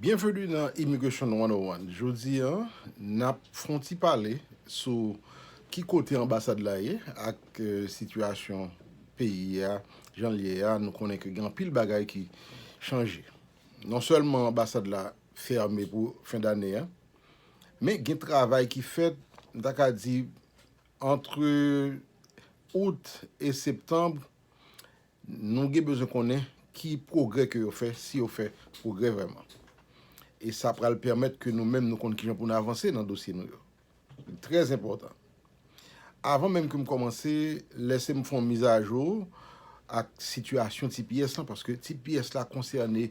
Byenveni nan Immigration 101, jodi a nap fè yon ti pale sou ki kote anbasad la ye ak sitiyasyon peyi a jan l ye a, nou konnen ke gen anpil bagay ki chanje non sèlman anbasad la fèmen pou fen dane a men gen travay ki fèt m ta ka di antre Août e Septembre Nou gen bezwen konnen ki pwogrè ke yo fè, si yo fè pwogrè vrèman. E sa pral pèmèt ke nou menm nou konn kijan pou nou avanse nan dosye nou yo. Li trè enpòtan. Avan menm ke m kòmanse, lèse m fè yon mizajou ak sitiyasyon tps lan, paske tps la konsène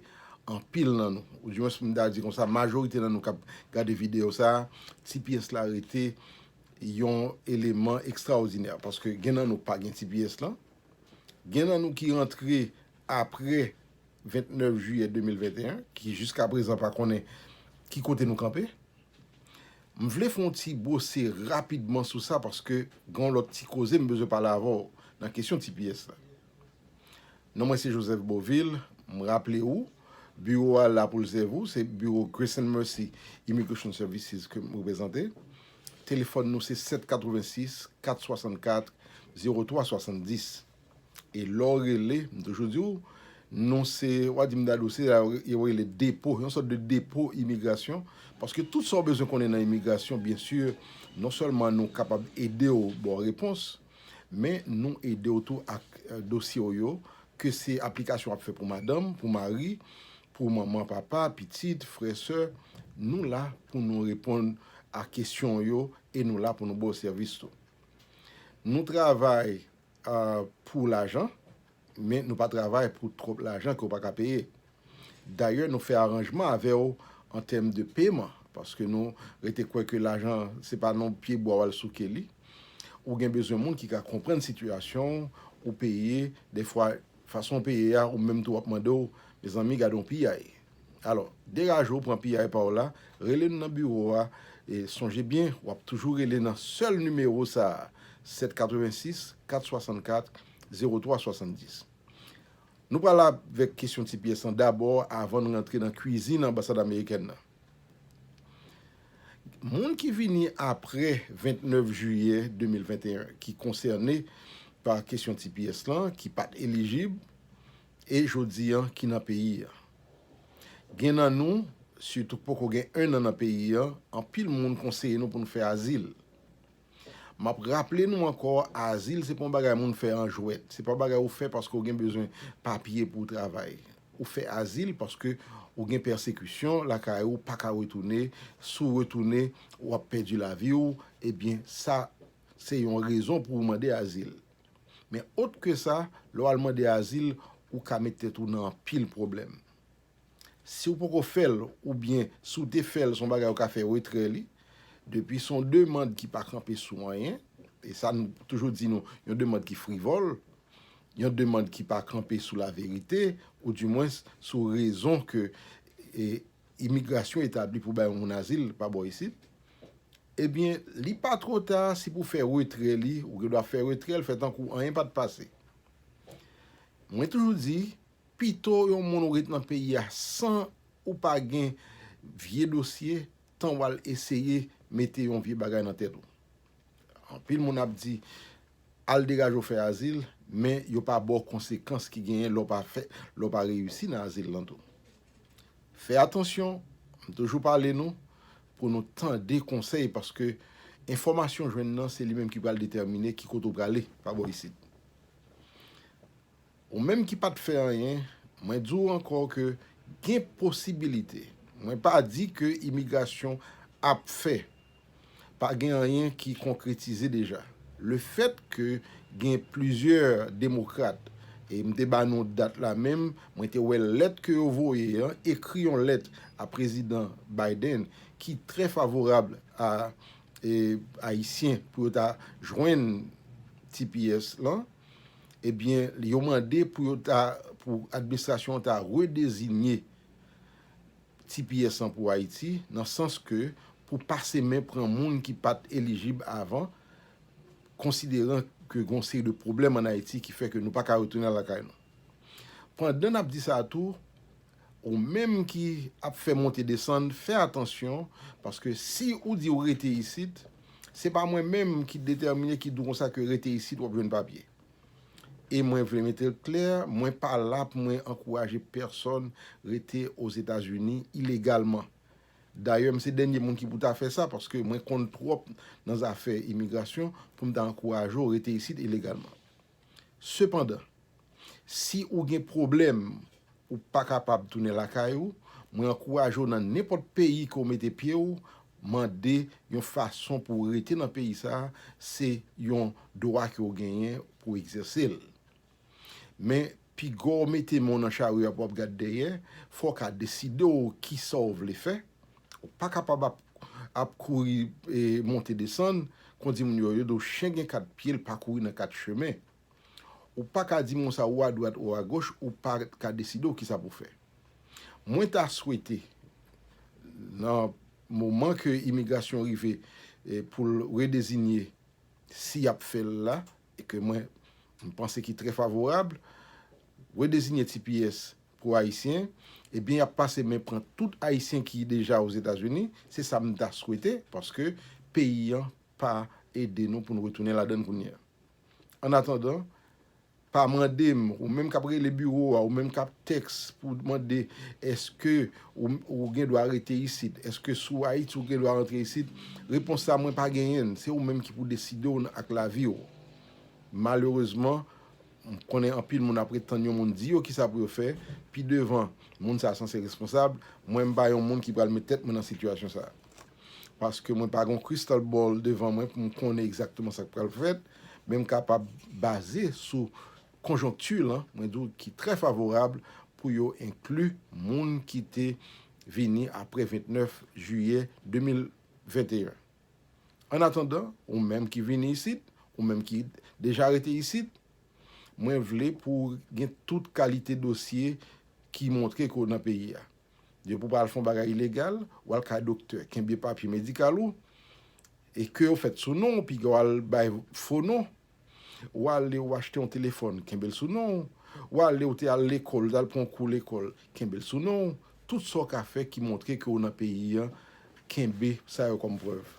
anpil nan nou. Ou di mwens m ta di konsa, majorite nan nou k ap gade videyo sa a, tps la rete yon eleman ekstraòdinè. Paske gen nan nou pa gen tps lan, Gen nan nou ki rantre apre 29 jiyè 2021 ki jiska prezan pa konnen ki kote nou kanpe. M vle fè yon ti bwose rapidman sou sa paske gen yon lòt ti koze m bezwen pale avè w nan kesyon tps la. Non mwen se Joseph Beauvil, m raple ou biwo a la pou l sèvi w, se biwo Grace and Mercy Immigration Services ke m reprezante. Telefòn nou se 786 464 0370 e lè w rele, m toujou di w, nou se, wa di m Dadou, se sa yo rele depo, yon sòt de depo imigrasyon, paske tout sa w bezwen konnen nan imigrasyon, byen si, non sèlman nou kapab ede w ba w repons, Men nou ede w tou ak dosye w yo, ke se aplikasyon w ap fè pou madanm, pou mari, pou manman, papa, pitit, frè, sè, nou la pou nou reponn a kesyon w yo e nou la pou nou ba w sèvis tou. Nou travay pou lajan, Men nou pa travay pou twòp lajan ke w pa ka peye. Dayè nou fè aranjman avè w an tèm de peman paske nou rete kwè ke lajan se pa nan pye bwa w al souke li. Ou gen bezwen moun ki ka konprann sitiyasyon w, ou peye, dèfwa fason w peye a ou menm tou w ap mande w, mezanmi gade yon piyay. Alò, degaje w pran piyay pa w la, rele nou nan biwo a e sonje byen w ap toujou rele nan sèl nimewo sa a, 786 464 03 70. Nou pral avèk kesyon ti pyès lan dabò avan n rantre nan kwizin anbasad amerikèn nan. Moun ki vini apre 29 jiyè 2021 ki konsène pa kesyon ti pyès lan ki pa t elijib e jodi an ki nan peyi an. Gen nan nou sitou k poko gen ennan nan peyi an anpil moun konseye nou pou nou fè azil. M ap raple nou ankò, azil se pa yon bagay moun fè an jwèt. Se pa yon bagay ou fè paske ou gen bezwen papye pou w travay. Ou fè azil paske ou gen pèsekisyon lakay ou, ou pa ka retounen. Si w retounen, w ap pèdi lavi w. Ebyen, sa se yon rezon pou ou mande azil. Men, otrke sa, lè w al mande azil, ou ka met tèt ou nan anpil pwoblèm. Si ou poko fèl oubyen si ou te fèl son bagay ou ka fè retrè li depi son demand ki pa kanpe sou anyen e sa nou toujou di nou yon demand ki frivòl yon demand ki pa kanpe sou laverite ou di mwens sou rezon ke imigrasyon etabli pou bay yon moun azil pa bò isit ebyen li pa twò ta si pou fè retrè li ou gen dwa fè retrèl fè tankou anyen pat pase mwen toujou di. Pito yon moun ret nan peyi a san ou pa gen vye dosye tan wal eseye mete yon vye bagay nan tèt ou. Anpil moun ap di al degaje w fè azil men yo pa ba w konsekans ki genyen lè w pa fè, lè w pa reyisi nan azil lan tou. Fè atansyon, m toujou pale nou pou nou tande konsèy paske enfòmasyon jwenn nan se li menm ki pral detèmine ki kote w prale pa bò isit. Ou menm ki pat fè anyen, mwen di w ankò ke gen posibilite. Mwen pa di ke imigrasyon ap fè. Pa gen anyen ki konkretize deja. Le fèt ke gen plizyè demokrat, e m te ba nou dat la menm, mwen te wè lèt ke yo voye an, ekri yon lèt a Prezidan Biden ki trè favorab a Ayisyen pou yo ta jwenn tps lan. ebyen yo mande pou yo ta pou administrasyon an ta redezinye tps lan pou Ayiti nan sans ke pou pase men pran moun ki pat elijib avan konsideran ke gon seri de pwoblèm an Ayiti ki fè ke nou pa ka retounen lakay nou. Pandan n ap di sa tou, Ou menm ki ap fè monte desann fè atansyon paske si ou di ou rete isit se pa mwen menm ki detèmine ki di w konsa ke rete isit w ap jwenn papye. E mwen vle mete l klè mwen pa la pou mwen ankouraje pèsòn rete Ozetazini ilegalman. Dayè m se dènye moun ki pou ta fè sa paske mwen konn twòp nan zafè imigrasyon pou m ta ankouraje w rete isit ilegalman. Sepandan, si ou gen pwoblèm ou pa kapab tounen lakay ou, mwen ankouraje w nan nenpòt peyi ke w mete pye w, mande yon fason pou w rete nan peyi sa a, se yon dwa ke w genyen pou w egzèse l. Men, Piga w mete men w nan charyo a pou w ap gad dèyè, fò w ka deside w kisa w vle fè. Ou pa kapab ap ap kouri monte desann, kon di moun yo, yo do chen gen kat pye l pa kouri nan kat chemen. Ou pa ka di moun sa ou adwat ou agoch ou pa ka deside w kisa pou w fè. Mwen ta swete nan moman ke imigrasyon rive pou l redezinye si y ap fè l la, e ke mwen panse ki trè favorab, redezinye tps pou Ayisyen, ebyen y ap pase men pran tout Ayisyen ki deja Ozetazini, se sa m ta swete, paske peyi an pa ede nou pou n retounen ladann kounye a. Annatandan, pa mande m, ou menm k ap rele biwo a, ou menm k ap tèks pou mande èske Ou gen dwa rete isit. Eske si w Ayiti ou gen dwa rantre isit? Repons la mwen pa genyen l. Se ou menm ki pou deside w ak lavi w. Malerezman, m konnen anpil moun ap ret tann yon moun di yo kisa pou yo fè, pi devan. Moun sa sanse responsab. Mwen m pa yon moun ki pral met tèt mwen nan sitiyasyon sa. Paske mwen pa gen yon crystal ball devan mwen pou m konnen egzakteman sa k pral fèt. Men m kapab baze sou konjonkti lan, mwen di w ki trè favorab pou yo enkli moun ki te vini apre 29 jiyè 2021. An atandan, ou menm ki vini isit, ou menm ki deja rete isit, mwen vle pou w gen tout kalite dosye ki montre ke w nan peyi a. Depi w pa al fè yon bagay ilegal, ou al kay doktè, kenbe papye medikal ou, e ke yo fèt sou non w, piga w al bay fo non, W ale w achte yon telefòn, kenbe l sou non w. W ale w te al lekòl, w t al pran yon kou lekòl, kenbe l sou non w. Tout sa w ka fè ki montre ke w nan peyi an, kenbe sa yo kòm prèv.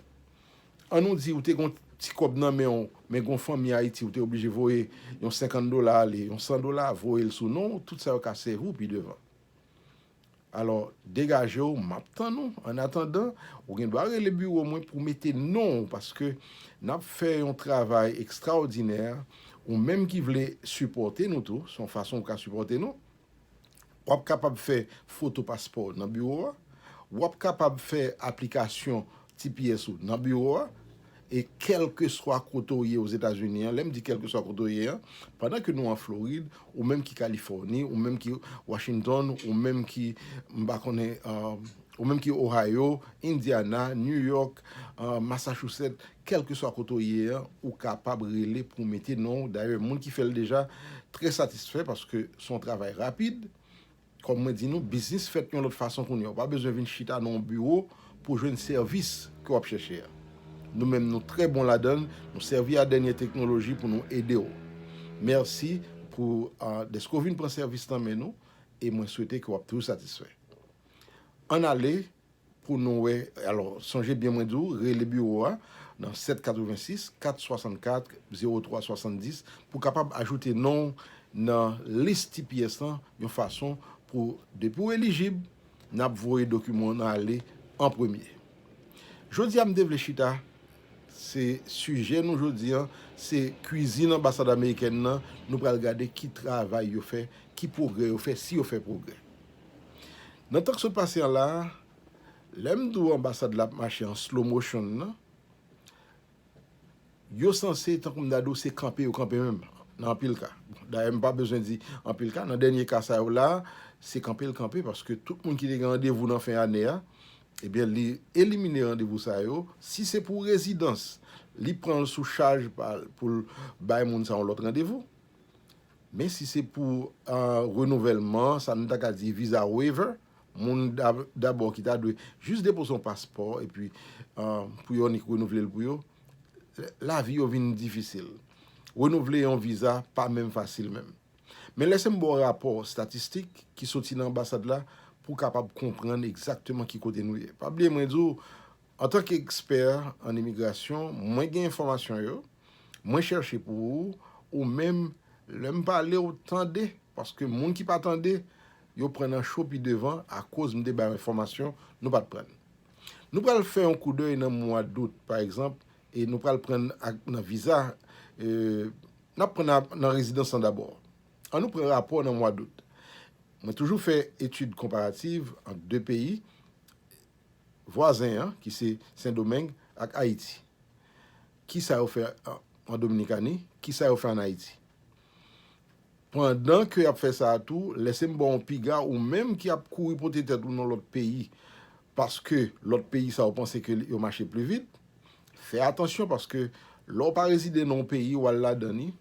An nou di ou te gen yon ti kòb nan men w, men gen yon fanmi Ayiti ou te oblije voye yon 50 dola ale, yon 100 dola, voye l sou non w, tout sa yo ka sèvi w pi devan. Alò, degaje w, m ap tann ou. Annatandan, ou gen dwa rele biwo mwen pou w mete non w paske n ap fè yon travay ekstraòdinè. Ou menm ki vle sipòte nou tou, se yon fason ou ka sipòte nou. W ap kapab fè foto paspò w nan biwo a. W ap kapab fè aplikasyon Ti pyès ou nan biwo a, e kèlkeswa kote w ye Ozetazini an, lè m di kèlkeswa kote w ye an, pandan ke nou an Florid, ou menm ki Kalifòni, ou menm ki Washington, ou menm ki, m pa konnen, ou menm ki Ohio, Indiana, New York, Massachusetts, kèlkeswa kote w ye an, ou kapab rele pou mete non w, dayè moun ki fè l deja trè satisfè paske s on travay rapid, Kòm mwen di nou, biznis fèt yon lòt fason kounye a. Ou pa bezwen vin chita nan yon biwo pou w jwenn sèvis ke w ap chèche a. Nou menm nou trè bon ladan l, nou sèvi a dènye teknoloji pou nou ede w. Mèsi pou dèske w vin pran sèvis nan men nou e mwen swete ke w ap toujou satisfè. Ann ale Pou nou wè, alò, sonje byen mwen di w, rele biwo a nan 786 464 03 70 pou w kapab ajoute non w nan lis tps lan yon fason pou depi w elijib, n ap voye dokiman w nan ale an premye. Jodi a m te vle chita se sijè nou jodi a se kwizin anbasad amerikèn nan, nou pral gade ki travay yo fè, ki pwogrè yo fè, si yo fè pwogrè. Nan tan k sot pase an la, lè m di w anbasad la ap mache an slow motion nan, yo sanse tankou m ta di w se kanpe yo kanpe menm nan anpil ka. Dayè m pa bezwen di anpil ka, nan dènye ka sa yo la, se kanpe l kanpe paske tout moun ki te gen randevou nan fen ane a, ebyen li elimine randevou sa yo. Si se pou rezidans, li pran l sou chaj pa l pou l bay moun sa yon lòt randevou. Men si se pou renouvèlman, sa nou ta ka di visa waiver, moun dabò ki ta dwe jis depoze yon paspò epi pou yo annik renouvle l pou yo, lavi yo vin difisil. Renouvle yon visa pa menm fasil menm. Men lèse m ba w rapò statistik ki soti nan anbasad la pou w kapab konprann egzakteman ki kote nou ye. Pa bliye mwen di w, antanke ekspè an imigrasyon, mwen gen enfòmasyon yo, Mwen chèche pou ou, ou menm, lè m pale ou tande, paske moun ki pa tande, yo pran nan cho pi devan akoz m te ba yo enfòmasyon nou pa t pran. Nou pral fè yon koudèy nan mwa dout, pa egzanp, e nou pral pran nan viza, n ap pran nan rezidans lan dabò. An nou pran rapò nan mwa dout. Mwen toujou fè etid konparativ ant de peyi vwazen an ki se Sendomeng ak Ayiti. Ki sa yo fè an Dominikani? Ki sa yo fè an Ayiti? Pandan ke y ap fè sa a tou, lèse m ba w yon piga, ou menm ki ap kouri pote tèt ou nan lòt peyi, paske lòt peyi sa yo panse ke yo mache pli vit, fè atansyon paske lè w pa rezide nan yon peyi, w al ladan li,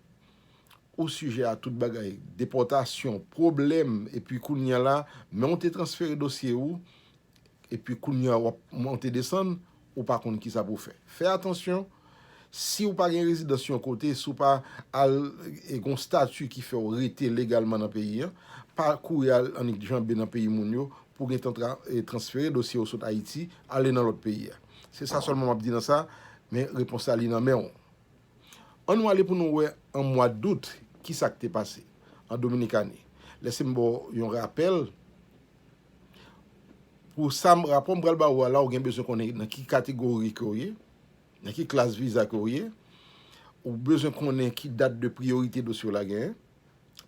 ou sijè a tout bagay, depòtasyon, pwoblèm, epi kounye a la, menm w te transfere dosye ou, Epi kounya wap monte desann ou pa konn kisa pou w fè. Fè atansyon, si w pa gen rezidans yon kote, si w pa al e gen yon stati ki fè w rete legalman nan peyi an, pa kouri al annikjanbe nan peyi moun yo pou w gentan transfere dosye w sot Ayiti ale nan lòt peyi a. Se sa sèlman m ap di nan sa, men repons la li nan men w. An nou ale pou nou wè an mwa dout kisa k te pase an Dominikani. Lèse m ba w yon rapèl. Pou sa m rapò m pral ba ou a la ou gen bezwen konnen nan ki kategori ke w ye, nan ki klas viza ke w ye, ou bezwen konnen ki dat de priyorite dosye w la genyen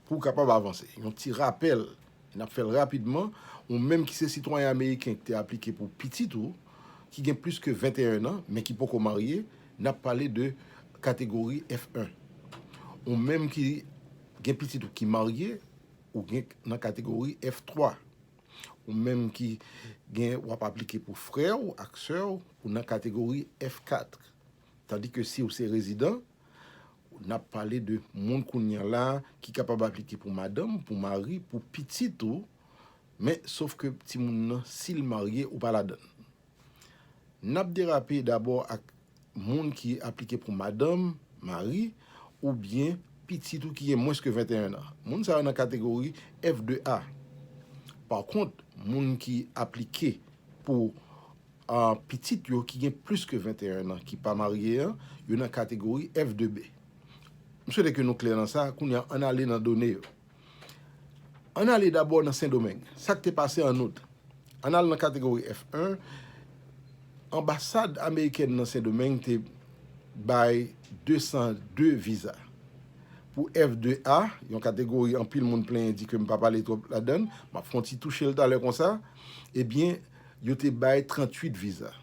pou w kapab avanse. Yon ti rapèl, n ap fè l rapidman, ou menm ki se sitwayen ameriken ki te aplike pou pitit ou ki gen plis ke 21 an men ki poko marye, n ap pale de kategori F1. Ou menm ki gen pitit ou ki marye, Ou gen nan kategori F3. Ou menm ki gen w ap aplike pou frè w ak sè w, ou nan kategori F4. Tandi ke si w se rezidan, n ap pale de moun kounye a la ki kapab aplike pou madanm, pou mari, pou pitit ou, men sof ke timoun nan si l marye ou pa ladann. N ap derape dabò ak Moun ki aplike pou madanm, mari, oubyen pitit ou ki gen mwens ke 21 an. Moun sa yo nan kategori F2A. Pa kont, moun ki aplike pou pitit yo ki gen plis ke 21 an ki pa marye an, yo nan kategori F2B. M swete ke nou klè nan sa, kounye a an n ale nan done yo. An n ale dabò nan Sendomeng. Sa k te pase an Out? An n al nan kategori F1, Anbasad amerikèn nan Sendomeng te bay 202 viza. Pou F2 a, yon kategori anpil moun plenyen di ke m pa pale twòp ladan l, m ap fè yon ti touche l talè konsa, ebyen yo te bay 38 viza.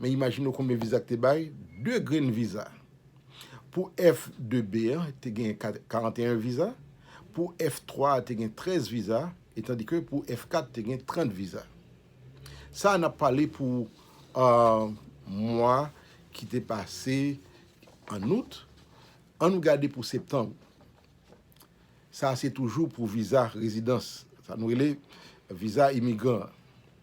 Men imajine w konbyen viza ki te bay, 2 grenn viza. Pou F2B a, te gen 41 viza, pou F3 a, te gen 13 viza, etandike pou F4, te gen 30 viza. Sa a n ap pale pou mwa ki te pase an out, an nou gade pou septanm. Sa a se toujou pou viza rezidans, sa nou rele viza imigran.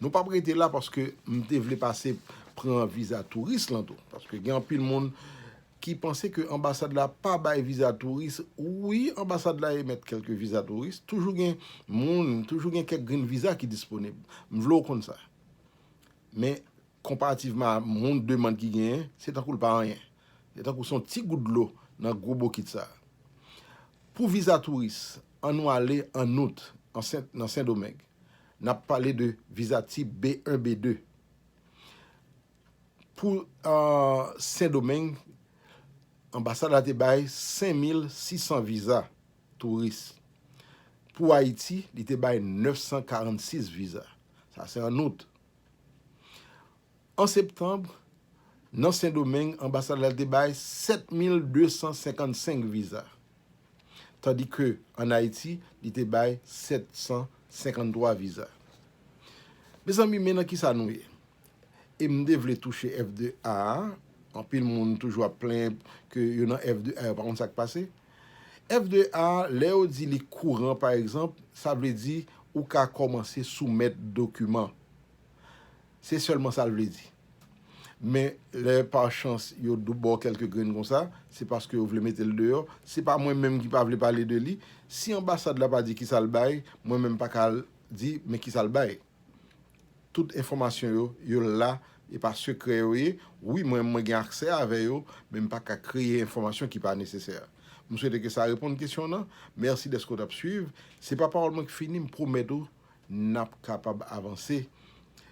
Nou pap rete la paske m te vle pase pran viza touris lan tou. Paske gen anpil moun ki panse ke anbasad la pa bay viza touris. Wi, anbasad la emèt kèlke viza touris. Toujou gen moun, toujou gen kèk grenn viza ki disponib. M vle w konn sa. Men, konparativman a moun demand ki genyen, se tankou l pa anyen. Se tankou son ti gout dlo nan gwo bokit sa. Pou viza touris, an nou ale an out nan Sendomeng. N ap pale de viza tip B1, B2. Pou Sendomeng, anbasad la te bay 5,600 viza touris. Pou Ayiti, li te bay 946 viza. Sa se an out. An septanb, nan Sendomeng, anbasad la te bay 7255 viza, tandi ke an Ayiti, li te bay 753 viza. Mezanmi, men nan kisa nou ye? E m te vle touche F2A a, anpil moun toujou ap plenyen ke yo nan F2A yo pa konn sa k pase. F2A, lè yo di li kouran pa egzanp, sa vle di ou ka kòmanse soumèt dokiman. Se sèlman sa l vle di. Men, lè pa chans yo ba w kèlke grenn konsa, se paske yo vle mete l deyò. Se pa mwen menm ki pa vle pale de li. Si anbasad la pa di ki sa l bay, mwen menm pa ka al di men ki sa l bay. Tout enfòmasyon yo, yo la, e pa sekrè yo ye. Wi, mwen, mwen gen aksè avè yo, men m pa ka kreye enfòmasyon ki pa nesesè. M swete ke sa reponn kesyon w nan. Mèsi dèske w t ap suiv. Se pa pawòl mwen ki fini, m pwomèt ou. n ap kapab avanse.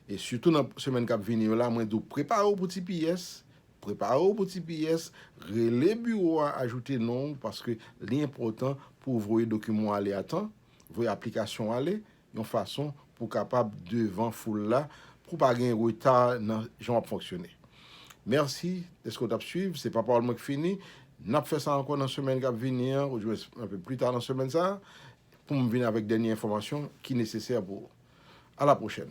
E sitou nan semèn k ap vini yo la, mwen di w prepare w pou tps, prepare w pou tps, rele biwo a ajoute non w paske li enpòtan pou w voye dokiman w ale a tan, voye aplikasyon w ale yon fason pou w kapab devan foul la, pou w pa gen reta nan jan w ap fonksyone. Mèsi dèske w t ap suiv. Se pa pawòl mwen ki fini. N ap fè sa ankò nan semèn k ap vini an ouzwen anpe pli ta nan semèn sa a. pou m vin avèk dènye enfòmasyon ki nesesè pou ou. A la pwochèn!